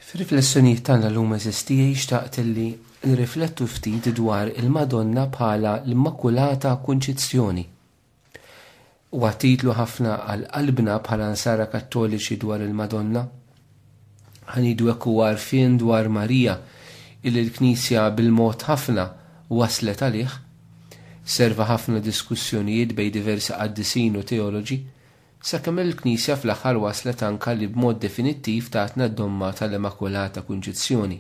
Fir-riflessjonijiet tagħna llum eżistijie xtaqt li nirriflettu ftit dwar il-Madonna bħala l-Immakulata Kunċizzjoni. Huwa titlu ħafna għal qalbna bħala Nsara Kattoliċi dwar il-Madonna. Ħanidu hekk huwa għarfien dwar Marija illi l-Knisja bil-mod ħafna wasslet għalih. Serva ħafna diskussjonijiet bejn diversi qaddisin u teoloġi Sakemm il-Knisja fl-aħħar waslet anka li b'mod definittiv tatna d-domma tal-Immakulata Kunċizzjoni.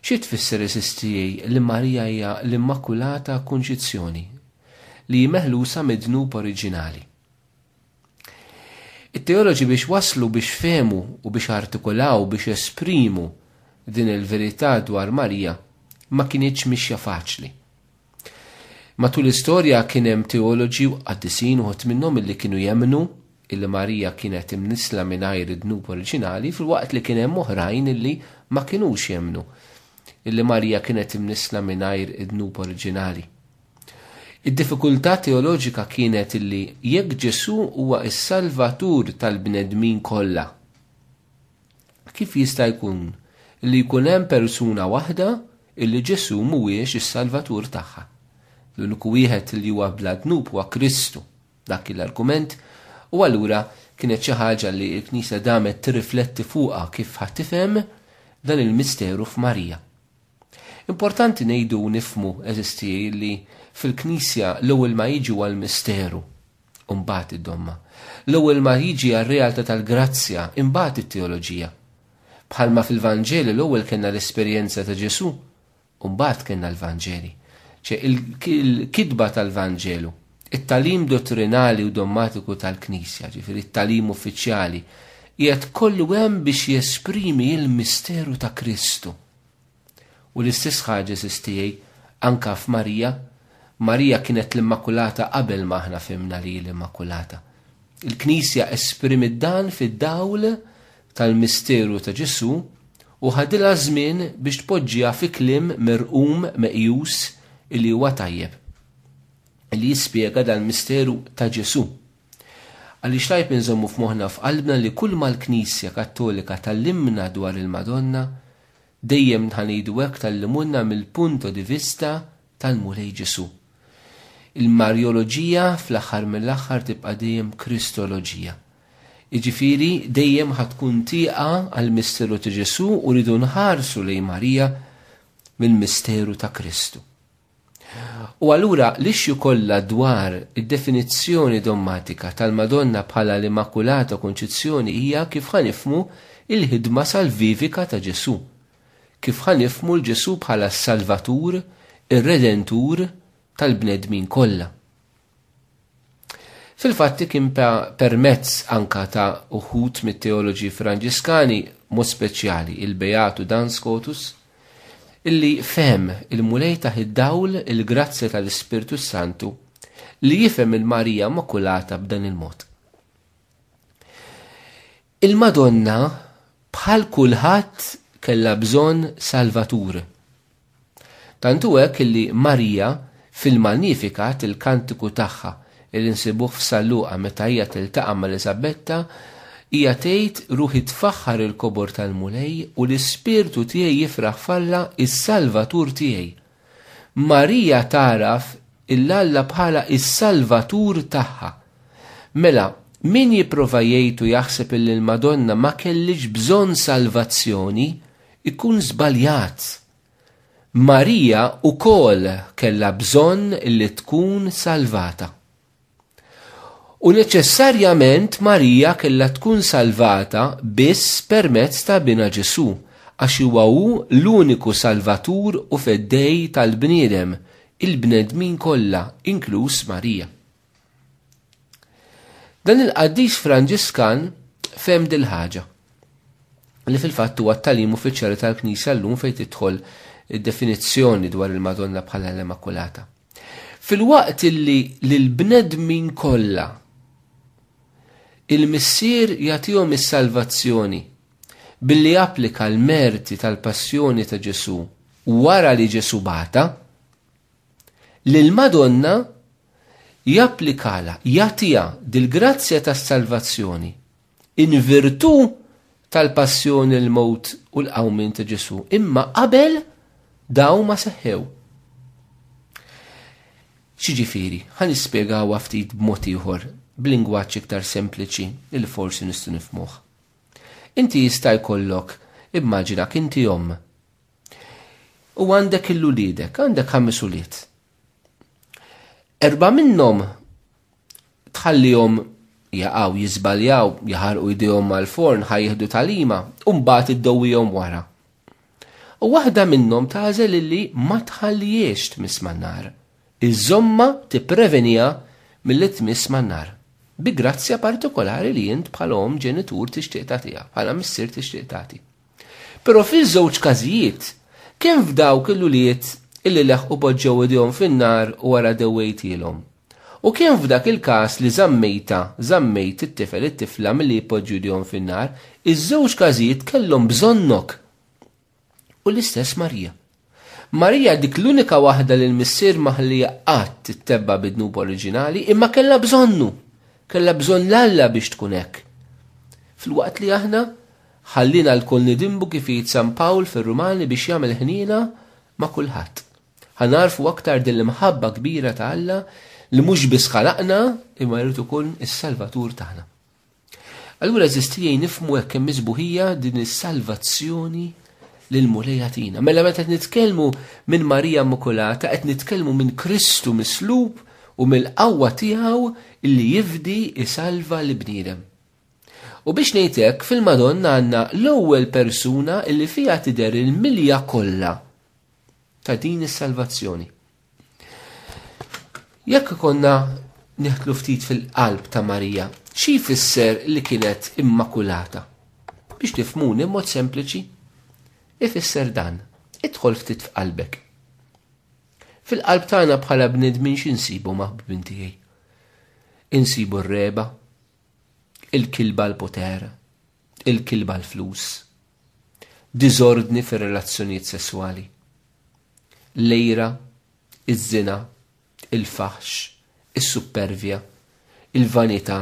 Xi tfisser is-Sistriji li Marija hija l-Immakulata Kunċizzjoni, li hi meħlusa mid-dnub oriġinali? It-teoloġi biex waslu biex fehmu u biex artikulaw biex esprimu din il-verità dwar Marija ma kinitx mixja faċli. Matul l-istorja kien hemm teoloġi u qaddisin uħud minnhom illi kienu jemmnu illi Marija kienet imnissla mingħajr id-dnub oriġinali filwaqt li kien hemm oħrajn illi ma kinux jemmnu illi Marija kienet imnissla mingħajr id-dnub oriġinali. Id-diffikultà teoloġika kienet illi jekk Ġesù huwa s-Salvatur tal-bnedmin kollha, Kif jista' jkun li jkun hemm persuna waħda illi Ġesù mhuwiex is-Salvatur tagħha? L-uniku wieħed li huwa bla dnub huwa Kristu. Dak kien l-argument, u allura kienet xi ħaġa li l-Knisja damet tirrifletti fuqha kif ħa tifhem dan il-misteru f'Marija. Importanti ngħidu u nifhmu, għeżież tiegħi, li fil-Knisja l-ewwel ma jiġu għall-misteru, u mbagħad id-domma. L-ewwel ma jiġi għar-realtà tal-grazzja, imbagħad it-teoloġija. Bħalma fil-Vanġeli l-ewwel kellna l-esperjenza ta' Ġesù, u mbagħad kellna l-Vanġeli. Ċe il-kitba tal-Vanġelu, it-talim dottrinali u dommatiku tal-Knisja, ġifieri it-talim uffiċjali, qiegħed kollu hemm biex jesprimi il-misteru ta' Kristu. U l-istess ħaġa għażiż tiegħi anke f'Marija, Marija kienet l-Immakulata qabel ma aħna fhimna li hi l-Immakulata. Il-Knisja esprimiet dan fid-dawl tal-misteru ta' Ġesù u ħadilha żmien biex tpoġġiha fi kliem merqum meqjus li huwa tajjeb li jispjega dal-misteru ta' Ġesù. Għaliex tajb inżommu f'moħħna f'qalbna li kull ma l-Knisja Kattolika tallimna dwar il-Madonna Dejjem nħanidu hekk tgħallimulna mill-punto di vista tal-Mulej Ġesù. Il-Marjoloġija fl-aħħar mill-aħħar tibqa' dejjem Kristoloġija. Jiġifieri dejjem ħa tkun tieqa għall-misteru ta' Ġesù u rridu nħarsu lejn Marija mill-misteru ta' Kristu. U allura l-issue kollha dwar id-definizzjoni dommatika tal-Madonna bħala l-Immakulata Konċizzjoni hija kif ħa nifhmu l-ħidma salvivika ta' Ġesù. Kif ħa nifhmu 'l Ġesù bħala s-Salvatur, ir-Redentur tal-bnedmin kollha. Fil-fatti kien permezz anka ta' uħud mit-teoloġi Franġiskani mod speċjali il-Beatu Dan Scotus illi fehem il-Mulej ta' id-dawl il-grazzja tal-Ispirtu s-Santu li jifhem il-Marija Immakulata b'dan il-mod. Il-Madonna bħal kulħadd kellha bżonn Salvatur. Tant hu hekk li Marija fil-Magnificat, il-kantiku tagħha li nsibuh f'San Luqa meta hija tiltaqa' ma' Eliżabetta, hija tgħid, Ruħi tfaħħar il-kobor tal-Mulej u l-ispirtu tiegħi jifraħ f'Alla s-Salvatur tiegħi. Marija tagħraf 'l Alla bħala s-Salvatur tagħha. Mela, min jipprova jgħid u jaħseb illi l-Madonna ma kellhiex bżonn salvazzjoni, ikun żbaljat. Marija wkoll kellha bżonn li tkun salvata. U neċessarjament Marija kellha tkun salvata biss permezz ta' binha Ġesù, għax huwa hu l-uniku Salvatur u Feddej tal-bniedem, il-bnedmin kollha, inkluż Marija. Dan il-qaddis Franġiskan fehem dil-ħaġa, li fil-fatt huwa t-tagħlim uffiċjali tal-Knisja llum fejn tidħol id-definizzjoni dwar il-Madonna bħala l-Immakulata. Filwaqt illi lill-bnedmin kollha il-Missier jagħtihom is-salvazzjoni billi applika l-merti tal-passjoni ta' Ġesù wara li Ġesù bagħatha, lill-Madonna japplikalha, jagħtiha dil-grazzja tas-salvazzjoni in virtù tal-passjoni, l-mewt u l-qawmien ta' Ġesù, imma qabel dawn ma seħħew. X'jiġifieri? Ħa nispjegawha ftit b'mod ieħor, b'lingwaġġ iktar sempliċi li forsi nistgħu nifhmuh. Inti jista' jkollok, immaġinak inti omm. U għandek il-uliedek, għandek ħames ulied. Erba' minnhom tħallihom jaqgħu, jiżbaljaw, jaħarqu jdejhom mal-forn ħa jieħdu tagħlima u mbagħad iddowwihom wara. U waħda minnhom tagħżel illi ma tħallihiex tmiss man-nar. Iżommha tipprevenija milli tmiss man-nar. Bi grazzja partikolari li int bħala omm ġenitur tixtieq tagħtiha, bħala missier tixtieq tagħti. Però fiż-żewġ każijiet, kemm f'dawk il-ulied illi leħqu poġġew idejhom fin-nar wara dewwejtilhom, u kemm f'dak il-każ li żammejtha, żammejt it-tifel, it-tifla milli jpoġġu idejhom fin-nar, iż-żewġ każijiet kellhom bżonnok! U l-istess Marija. Marija dik l-unika waħda li l-Missier ma ħallieha qatt ittebba' bi dnub oriġinali, imma kellha bżonnu, kellha bżonn 'l Alla biex tkun hekk. Filwaqt li aħna, ħalliena lkoll nidinbu kif jgħid San Pawl fir-Rumani biex jagħmel ħniena ma' kulħadd. Ħa nagħrfu aktar din l-imħabba kbira ta' Alla li mhux biss ħalaqna imma jrid ikun is-Salvatur tagħna. Allura eżisti li jgħin nifmu hekk hemm miżbuħija din is-salvazzjoni li l-Mulej jagħtina. Mela meta qed nitkellmu minn Marija Immakulata qed nitkellmu minn Kristu mislub u mill-qawwa tiegħu li jifdi isalva l bniedem. U biex ngħidlek fil-Madonna għandna l-ewwel persuna li fiha tidher il-milja kollha ta' din is-salvazzjoni. Jekk konna neħtlu ftit fil-qalb ta' Marija, xi jfisser li kienet immakulata? Biex tifmuni mod sempliċi, ifisser dan, idħol ftit f'qalbek. Fil-qalb tagħna bħala bnedmin xi nsibu maħbubin tiegħi. Insibu r-reba, il-kilba l-poter, il-kilba l-flus, diżordni fir-relazzjonijiet sesswali, l-għira, iż-żina, il-faħx, is-suppervja, il-vanità,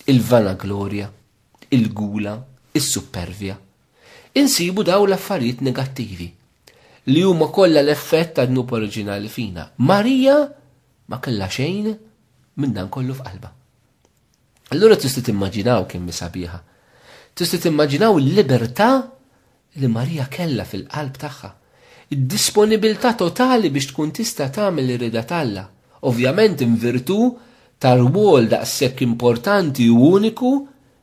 il-vanaglorja, il-gula, is-suppervja. Insibu dawn l-affarijiet negattivi li huma kollha l-effett tad-dnub oriġinali fina. Marija ma kellha xejn minn dan kollu f'qalbha. Allura tista' timmaġinaw kemm sabiħa. Tista' timmaġinaw il-libertà li Marija kellha fil-qalb tagħha. Id-disponibilità totali biex tkun tista' tagħmel ir-rida t'Alla, ovvjament invirtu tar-rwol daqshekk importanti u uniku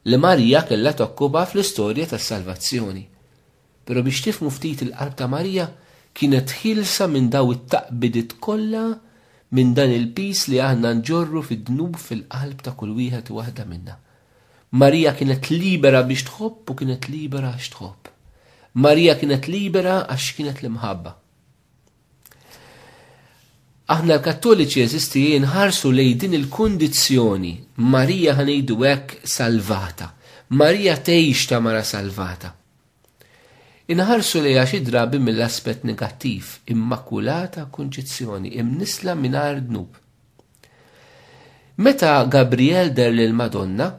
li Marija kellha tokkupa fl-istorja tas-salvazzjoni. Pero biex tifhmu ftit il-qalb ta' Marija kienet ħielsa minn daw it-taqbidiet kollha minn dan il-piż li aħna nġorru fid-dnub fil-qalb ta' kull wieħed u waħda minna. Marija kienet libera biex tħobb u kienet libera għax tħobb. Marija kienet libera għax kienet l-imħabba. Aħna l-Kattoliċi eżisti nħarsu lej din il-kundizzjoni. Marija ħanejdu hekk salvata. Marija tgħix ta' mara salvata. Inħarsu lejha xi drabi mill-aspett negattiv, immakulata kunċizzjoni, imnissla mingħajr dnub. Meta Gabriel der lill-Madonna,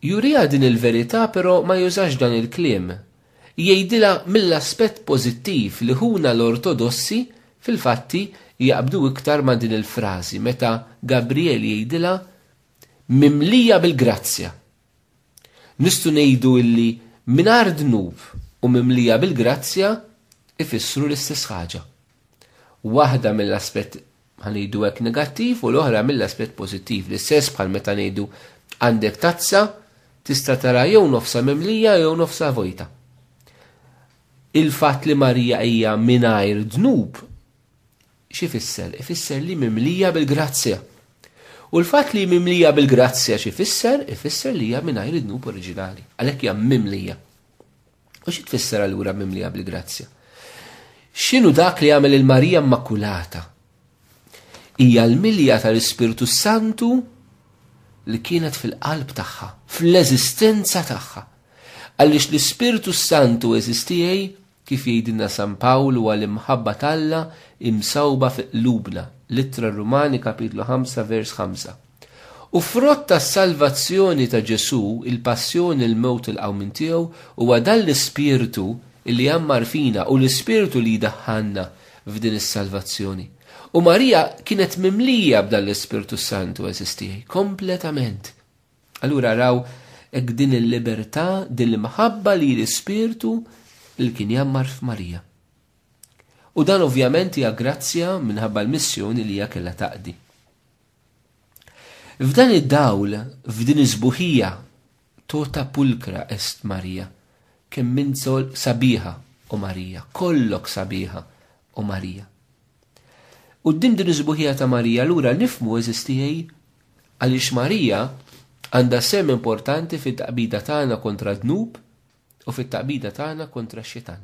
juriha din il-verità però ma jużax dan il-kliem. Jgħidilha mill-aspett pożittiv li ħuna l-Ortodossi fil-fatti jaqbdu iktar ma' din il-frażi meta Gabriel jgħidilha mimlija bil-grazzja. Nistgħu ngħidu illi mingħajr dnub u mimlija bil-grazzja jfissru l-istess ħaġa. Waħda mill-aspett ħa ngħidu hekk negattiv u l-oħra mill-aspett pożittiv, l-istess bħal meta ngħidu għandek tazza tista' tara jew nofsha mimlija jew nofsha vojta. Il-fatt li Marija hija mingħajr dnub X'ifisser? Ifisser li mimlija bil-grazzja. U l-fatt li mimlija bil-grazzja x'ifisser? Ifisser li hija mingħajr id-dnub oriġinali. Għalhekk hija mimlija. U xi tfisser allura mimlija bil-grazzja? X'inhu dak li għamel il-Marija Immakulata? Hija l-milja tal-Ispirtu Santu li kienet fil-qalb tagħha, fl-eżistenza tagħha. Għaliex l-Ispirtu Santu eżistijaj Kif jgħidilna San Pawl huwa l-imħabba t'Alla imsawba fi qlubna, l-Ittra r-Rumani kapitlu 5 vers 5. U frott tas-salvazzjoni ta' Ġesù, il-passjoni, il-mewt u l-qawmien tiegħu, huwa dan l-Ispirtu li jgħammar fina u l-Ispirtu li jdaħħalna f'din is-salvazzjoni. U Marija kienet mimlija b'dan l-Ispirtu s-Santu, għeżież tiegħi, kompletament. Allura raw hekk din il-libertà, din l-imħabba li l-Ispirtu li kien jammar f'Marija. U dan ovvjament hija grazzja minħabba l-missjoni li hija kellha taqdi. F'dan id-dawl, f'din iż-żbuħija, tota pulkra est Marija, kemm minzol sabiħa u Marija, kollok sabiħa u Marija. Quddiem din is-sbuħija ta' Marija allura nifhmu, għeżież tiegħi, għaliex Marija għandha sehem importanti fit-taqbida tagħna kontra d-dnub u fit-taqbida tagħna kontra x-Xitan.